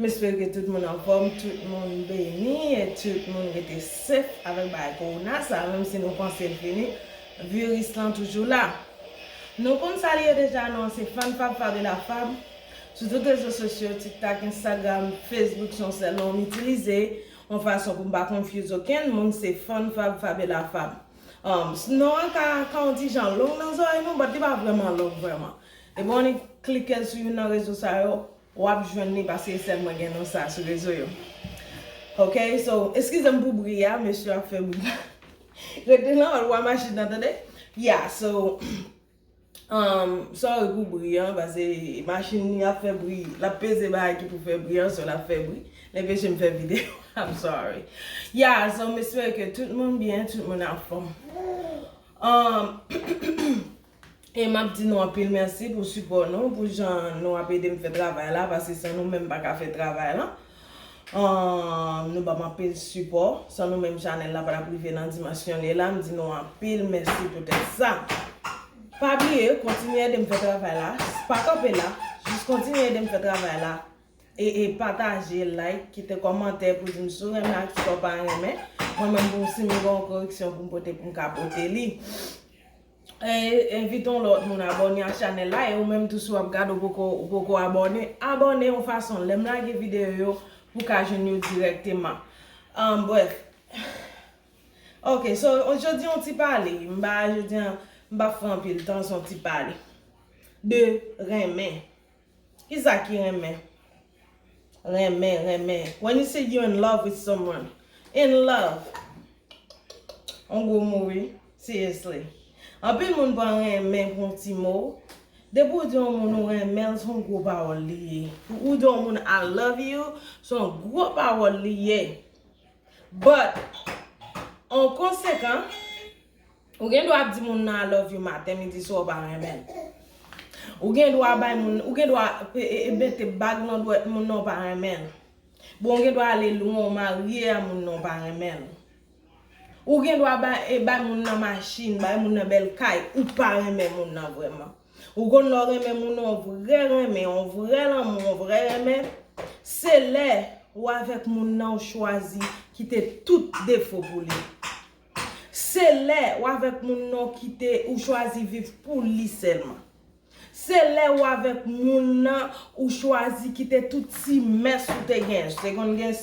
M espere ke tout moun anfòm, tout moun beni e tout moun rete sef avèk bagay kowona sa a menm si nou panse l fini, viris lan toujou la. Nou konn sa li ye deja non, se Fanfab Fabiola Fab sou tout rezo sosyo, TikTok, Instagram, Facebook se yon sèl non m itilize yon fason pou m pa confuse okenn moun se Fanfab Fabiola Fab. Non an ka ka yon ti jan long nan zòrèy nou but li pa vrèman long vrèman. Depi w annik klike l sou youn nan rezo sa yo, Wap jwenn li paske sèl mwen gen non sa sou rezo yo ok so eskizem pou bri a mesye ap fè bri rete nan lwa machin nan tande ya so humm sorry pou bri an pase machin li ap fè bri lap peze bagay ki pou fè bri an so lap fè bri li anpeche m fè video am sorry ya so m espere ke tout moun byen tout moun anfom humm. E map di nou anpil mèsi pou sipò nou, pou jan nou ap edem fè travay la, paske san nou menm m paka fè travay lan. Nou banm anpil sipò, san nou menm chanèl la patap rive nan dimansyon li ye la, m di nou anpil mèsi poutèt sa. Pa bliye kontinye edem fè travay la, pa kanpe la, jis kontinye edem fè travay la, e pataje, like, kite kòmantè pou dim si w renmen ak si w pa renmen, mwen menm pou m si m gen yon koreksyon pou m pote pou m ka pote li. Envite yon lòt moun abòne ak chanèl la e ou menm tou si wap gad ou poko abòne, abòne yon fason lèm lage videyo yo pou ka jwenn yo dirèkteman Brèf Ok so jodi yon ti pale mba jodi an mpa pran anpil tan son ti pale de renmen. Kisa ki renmen? Renmen, renmen. When you say you in love with someone. In love. On gwo mo wi. Seriously. Anpil moun pran renmen pou yon ti mo. Depi ou di yon moun ou renmen l, se yon gwo pawòl li ye. Pou ou di yon moun I love you, se yon gwo pawòl li ye. But, an konsekan. Ou gen dwa di moun nan I love you maten, midi, swa ou pa renmen l. Ou gen dwa bay moun nan, ou gen dwa mete bag nan dwèt moun nan ou pa renmen l. Bon ou gen dwa ale lwen ou marye a moun nan ou pa renmen l. Ou gen dwa bay moun nan machin, bay moun nan bèl kay, ou pa renmen moun nan vrèman. Ou konn lè ou renmen moun nan yon vrè renmen, yon vrè lanmou, yon vrè renmen, se lè ou avèk moun nan ou chwazi kite tout defo pou li. Se lè ou avèk moun nan ou kite ou chwazi viv pou li sèlman. Se lè ou avèk moun nan ou chwazi kite tout ti mès ou te gen. Se konn gen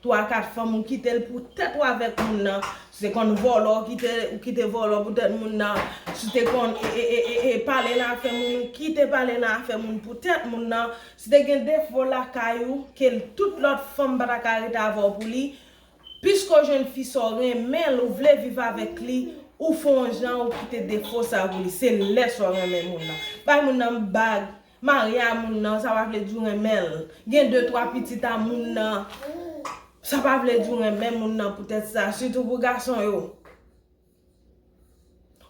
3, 4 fanm ou kite l pou tèt ou avèk moun nan. Se konn vòlò ou kite, ou kite vòlò pou tèt moun nan. Si te konn e pale nan afè moun ou kite pale nan afè moun pou tèt moun nan. Si te gen defo lakay ou ke tout lòt fanm pa ta ka rete avè w pou li. Piske w jwenn fi sa w renmen l ou vle viv avèk li ou fè yon jan ou kite defo sa pou li se lè sa w renmen moun nan bay moun nan bag marye a moun nan sa pa vle di w renmen l gen de twa pitit a moun nan sa pa vle di w renmen moun nan poutèt sa sitou pou gason yo.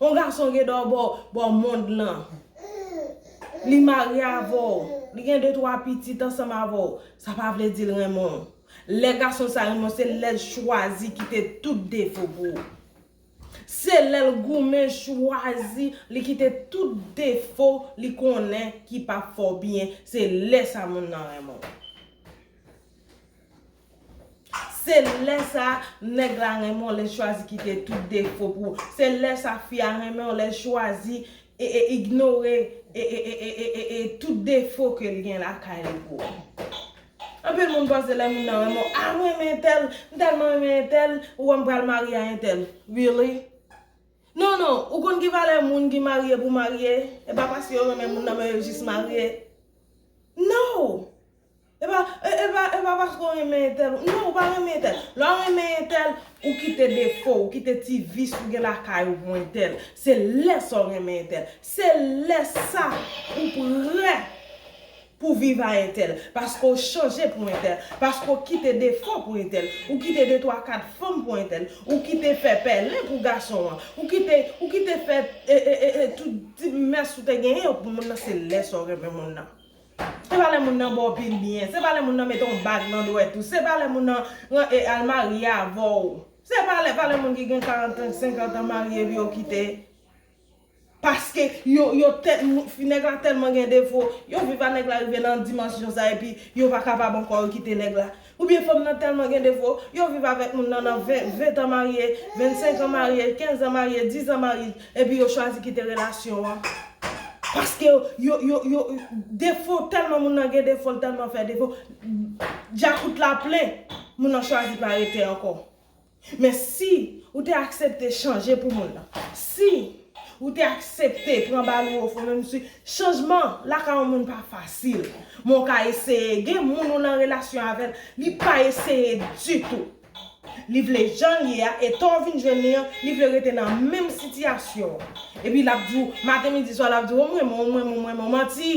On gason gen do bò bò mond lan. Li marye avè w. Li gen de twa pitit ansanm avè w. Sa pa vle di l renmen w. Lè gason sa renmen w se lè l chwazi kite tout defo pou ou. Se lè l goumen chwazi li kite tout defo li konnen ki pa fè w byen. Se lè sa moun nan renmen w. Se lè sa nèg la renmen w lè l chwazi kite tout defo pou ou se lè sa fi a renmen w lè l chwazi ignore tout defo ke l gen lakay li pou ou anpil moun panse lè moun nan renmen w ah mwen renmen entèl m tèlman renmen entèl ou wè m pral marye a entèl really non non ou konn ki valè moun ki marye pou marye e pa paske yo renmen moun nan men yo jis marye no Epa epa epa paske w renmen entèl ou non ou pa renmen entèl lè w renmen entèl ou kite defo w ou kite ti vis ou gen lakay ou pou entèl se lè sa w renmen entèl se lè sa ou prè pou viv a entèl paske w chanje pou entèl paske w kite defo pou entèl ou kite de twa kat fanm pou entèl ou kite fè pèlen pou gason an ou kite ou kite fè e e e tout ti mès ou te genyen pou moun nan se lè sa w renmen moun nan. Se pa lè moun nan ba w pil byen. Se pa lè moun nan mete yon bag nan dwèt ou. Se pa lè moun nan al marye avè w. Se pa lè, pa lè moun ki gen 40 an, 50 an marye epi yo kite. Paske yo, yo tèt, nèg la tèlman gen defo, yo viv a nèg la rive nan dimansyon sa epi yo pa kapab ankò yo kite nèg la. Ou byen fanm nan telman gen defo, yo viv avek moun nan nan 20, 20 tan marye, 25 an marye, 15 an marye, 10 an marye, epi yo chwazi kite relasyon an paske yo yo yo defo telman moun nan gen defo l telman fè defo djakout la plen moun nan chwazi pa rete anko. Men si ou te aksepte chanje pou moun nan. Si ou te aksepte pran bal ou ofon menm si chanjman lakay yon moun pa fasil. Men ou ka eseye. Gen moun ou nan relasyon avè l, li pa eseye ditou. Li vle jan l ye a, eta w vin jwenn li an, li vle rete nan menm sitiyasyon an. Epi l ap di w maten midi swa l ap di w ou m renmen w, ou m renmen w, ou m renmen w. Manti!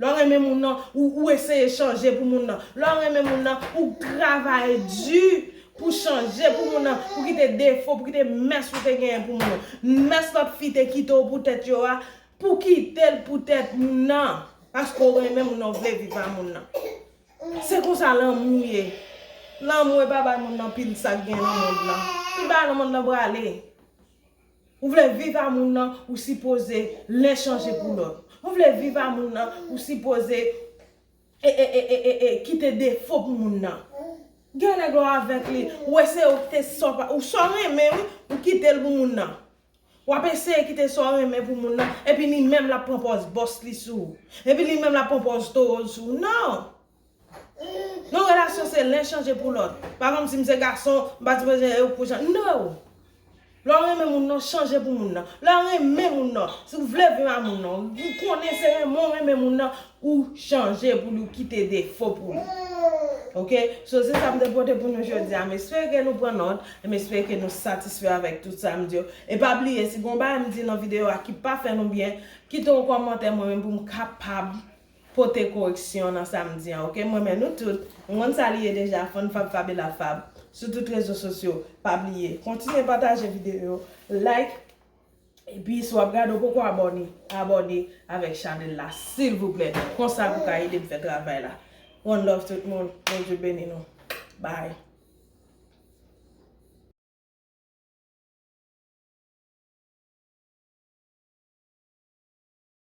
Lè w renmen moun nan, ou eseye chanje pou moun nan. Lè w renmen moun nan, ou travay di pou chanje pou moun nan, pou kite defo, pou kite mès ou te genyen pou moun nan. Mès lòt fi te kite w poutèt yo a, pou kite l poutèt moun nan. Paske w renmen moun nan, w vle viv a moun nan. Se konsa lanmou ye. Lanmou e pa bay moun nan pil sa k gen nan mond lan. Tout bagay nan mond lan prale. Ou vle viv a moun nan ou sipoze len chanje pou lòt. Ou vle viv a moun nan ou sipoze e kite defo pou moun nan. Gen nèg lè w avèk li ou wè se ou kite sa w renmen wi ou kite l pou moun nan. W ap eseye kite sa w renmen pou moun nan epi li menm l ap pran pòz bòs li sou ou. Epi li menm l ap pran pòz towo l sou ou nan. Yon relasyon se len chanje pou lòt. Pa konn sim se gason, mpa di bezwen ew pou chan no! Lè w renmen moun nan, chanje pou moun nan. Lè w renmen moun nan, si w vle viv a moun nan, ou konnen se renmen w renmen moun nan, ou chanje pou li ou kite defo pou li. Ok, so se sa m te pote pou nou jodi a. M espere ke nou pran nòt, e m espere ke nou satisfè avèk tout sa m di yo. E pa bliye, si gen yon bagay m di nan videyo a ki pa fè nou byen, kite yon kòmantè mwen menm pou m kapab. pote koreksyon nan sa m di an ok m renmen nou tout m konn sa li ye deja fann fab fabela fab sou tout rezo sosyo pa bliye kontinye pataje videyo yo like epi si wap gade ou poko abòne abòne avèk chanèl la silvouplè konsa pou ka edem fè travay la one love tout moun bondye beni nou bye.